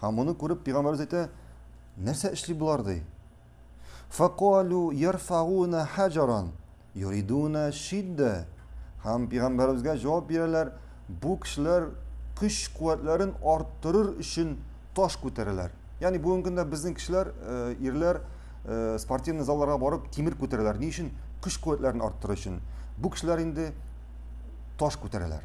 Һәм моны күреп, пәйгамбәребез әйтә, Нәрсә эшли болар ди? Факалу ярфауна хаҗаран юридуна шиддә. Һәм пәйгамбәребезгә җавап бирәләр, бу кешеләр көч-куәтләрен арттырыр өчен таш күтәрәләр. Ягъни бүгенге көндә безнең кешеләр, э, ирләр э, спортивный залларга барып тимер күтәрәләр. Ни өчен? Көч-куәтләрен арттырыр өчен. Бу кешеләр инде таш күтәрәләр.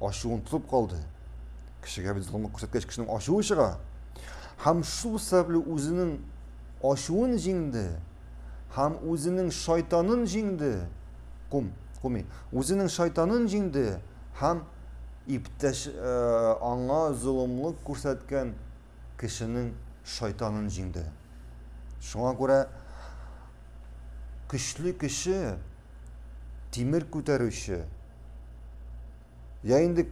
ачуын тотып калды. Кешегә бит золымлык күрсәткәч кешенең ачуы чыга. Һәм шул сәбәпле үзенең ачуын җиңде һәм үзенең шайтанын җиңде. Кум, куми. Үзенең шайтанын җиңде һәм иптәш э, аңа золымлык күрсәткән кешенең шайтанын җиңде. Шуңа күрә көчле кеше, тимер күтәрүче, я инде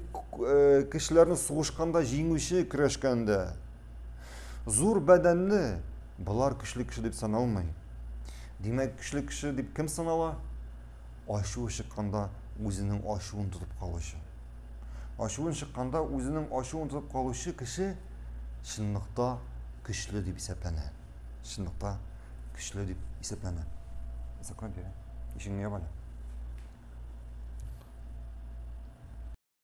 кешеләрне сугышканда җиңүче, көрәшкәндә, зур бәдәнле, болар көчле кеше дип саналмый. Димәк, көчле кеше дип кем санала? Ачуы чыкканда үзенең ачуын тотып калучы. Ачуын чыкканда үзенең ачуын тотып калучы кеше чынлыкта көчле дип исәпләнә. Чынлыкта көчле дип исәпләнә. Закрой дверь. Ишегеңне ябале.